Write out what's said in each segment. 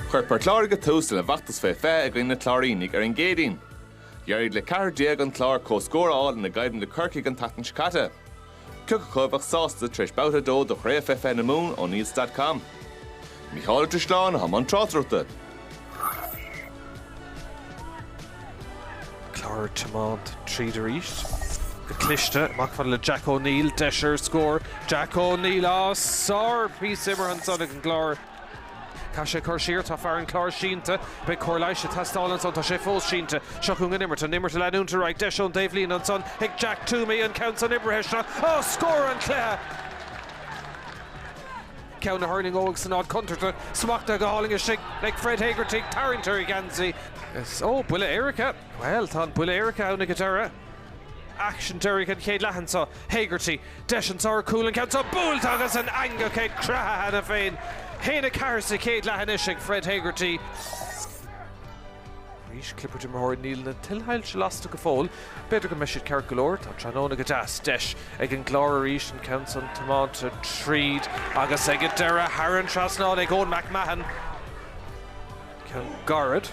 Chuir Port Láirge tús lena bhfeachtas fé fiche i gcoinne na Cláirínigh ar an gCéadaoin. D'éirigh le ceathrar déag an Clár comhscór a fháil ina gcoimhlint le Corcaigh an tseachtain seo caite. Cioca acu a bheadh sásta tar éis babhta a dó de Chraobh fé fiche na Mumhan O'Neills dot com? Mícheál Ó Drisleáin a bhí i mbun tráchtaireachta. Clár ag tiomáint tríd arís. Go cliste, amach fad le Jack O'Neill, deis ar scór. Jack O'Neill, á sárphíosa imeartha ansan ag an gClár. Caith sé cur siar, tá fear an Chláir sínte. Beidh cóir leighis ag teastáil ansan, tá sé fós sínte. Seo chugainn an imirt, an imirt ag leanúint ar aghaidh. Deis ón dtaobhlíne ansan ag Jack Twomey, an ceann san oibrithe isteach, á scór an cluiche! Ceann a thuirlingeoidh san áit chontúirteach smachtaithe go hálainn istigh ag Fred Hegarty ag tarraingt ar gheansaí. Is ó buille éirice. Bhuel, tá an buille éirice ann ag an deireadh. Aicsean deiridh an chéad leath anso. Hegarty, deis anso ar chúl an ceann seo buailte agus an eangach ag creathadh cheana féin. 1-4 sa chéad leath anois ag Fred Hegarty. Arís, clibirt imreoirí níl na tuilshoilse lasta go fóill. B'fhéidir go mbeidh siad ceart go leor, tá tráthnóna go deas. Deis ag an gClár arís an ceann san tiomáinte tríd agus ag an deireadh thar an trasnán ag Eoin McMahon. Ceann gairid.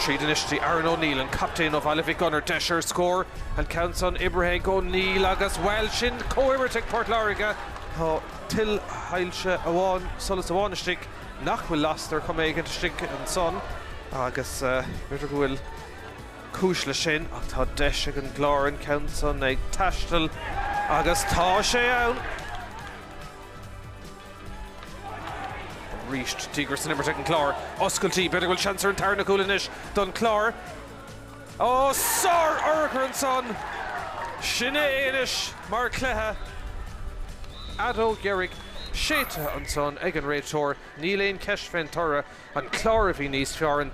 Tríd anois go dtí Aaron O'Neill an captaen ó Bhaile Mhic Gonair deis ar scór an ceann san oibrithe ag O'Neill agus bhuel sin comhimirt ag Port Láirge. Tá tuilshoilse amháin, solas amháin istigh. nach bhfuil lasta ar chuma éigin istigh ansan agus b'fhéidir go bhfuil cúis leis sin ach tá deis ag an gClár an ceann san ag taisteal agus tá sé ann! Arís díograis san imirt ag an gClár. Oscailtí, b'fhéidir go bhfuil seans ar an tarna cúl anois don Chlár. Ó, sár-urchar ansan! Sin é anois mar chluiche! Feadóg dheiridh séidte ansan ag an réiteoir, níl aon cheist fén toradh, an Clár a bhí níos fearr ann.